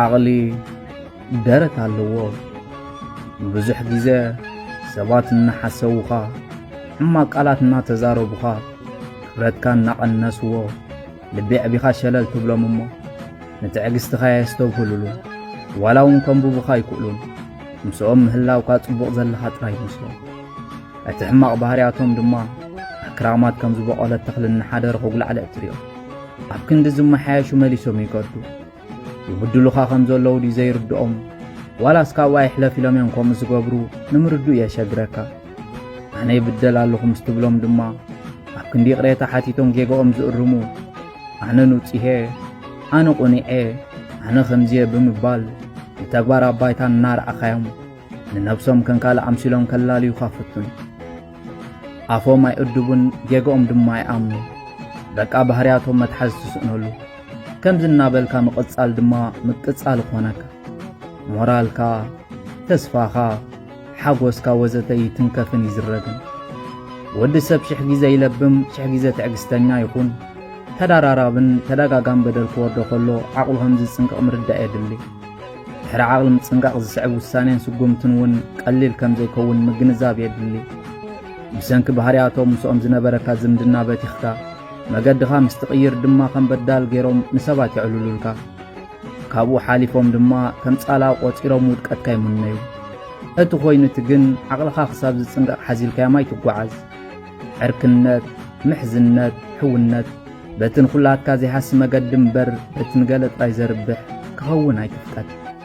ዓቕሊ ደረት ኣለዎ። ብዙሕ ግዜ ሰባት እናሓሰዉኻ ሕማቕ ቃላት እናተዛረቡኻ ክብረትካ እናቐነስዎ ልቢ ኣዕቢኻ ሸለል ትብሎም እሞ ንትዕግስትኻ የስተብህሉሉ ዋላ እውን ከንብቡኻ ኣይክእሉን። ምስኦም ምህላውካ ጽቡቕ ዘለኻ ጥራይ ይመስሎም። እቲ ሕማቕ ባህርያቶም ድማ ኣብ ክራማት ከም ዝበቖለት ተኽሊ እናሓደረ ክጉላዕልዕ ትሪኦ ኣብ ክንዲ ዝመሓየሹ መሊሶም ይገዱ ይብድሉኻ ከም ዘለዉ ድዩ ዘይርድኦም ዋላስ ካብኡ ኣይሕለፍ ኢሎም እዮም ከምኡ ዝገብሩ ንምርድኡ የሸግረካ ኣነ ይብደል ኣለኹ ምስ ትብሎም ድማ ኣብ ክንዲ ይቕሬታ ሓቲቶም ጌጋኦም ዝእርሙ ኣነ ንውፅሄ ኣነ ቁኒዔ ኣነ ከምዚየ ብምባል ንተግባር ኣባይታ እናረኣኻዮም ንነብሶም ከም ካልእ ኣምሲሎም ከላልዩኻ ፍቱን ኣፎም ኣይእድቡን ጌገኦም ድማ ኣይኣምኑ በቃ ባህርያቶም መትሓዝ ትስእነሉ ከምዚ እናበልካ ምቕጻል ድማ ምቅጻል ኾነካ ሞራልካ ተስፋኻ ሓጎስካ ወዘተ ይትንከፍን ይዝረግን ወዲ ሰብ ሽሕ ግዜ ይለብም ሽሕ ግዜ ትዕግስተኛ ይኹን ተደራራብን ተደጋጋም በደል ክወርዶ ከሎ ዓቕሉ ከም ዝጽንቅቕ ምርዳእ የድሊ ድሕሪ ዓቕሊ ምጽንቃቕ ዝስዕብ ውሳኔን ስጉምትን እውን ቀሊል ከም ዘይከውን ምግንዛብ የድሊ። ብሰንኪ ባህርያቶም ምስኦም ዝነበረካ ዝምድና በቲኽካ መገድኻ ምስ ትቕይር ድማ ከም በዳል ገይሮም ንሰባት የዕልሉልካ። ካብኡ ሓሊፎም ድማ ከም ጻላ ቆጺሮም ውድቀትካ ይምነዩ። እቲ ኮይኑ እቲ ግን ዓቕልኻ ክሳብ ዝጽንቀቕ ሓዚልካዮም ኣይትጓዓዝ። ዕርክነት፣ ምሕዝነት፣ ሕውነት በቲ ንኹላትካ ዘይሃሲ መገዲ እምበር በቲ ንገለ ጥራይ ዘርብሕ ክኸውን ኣይትፍቀድ።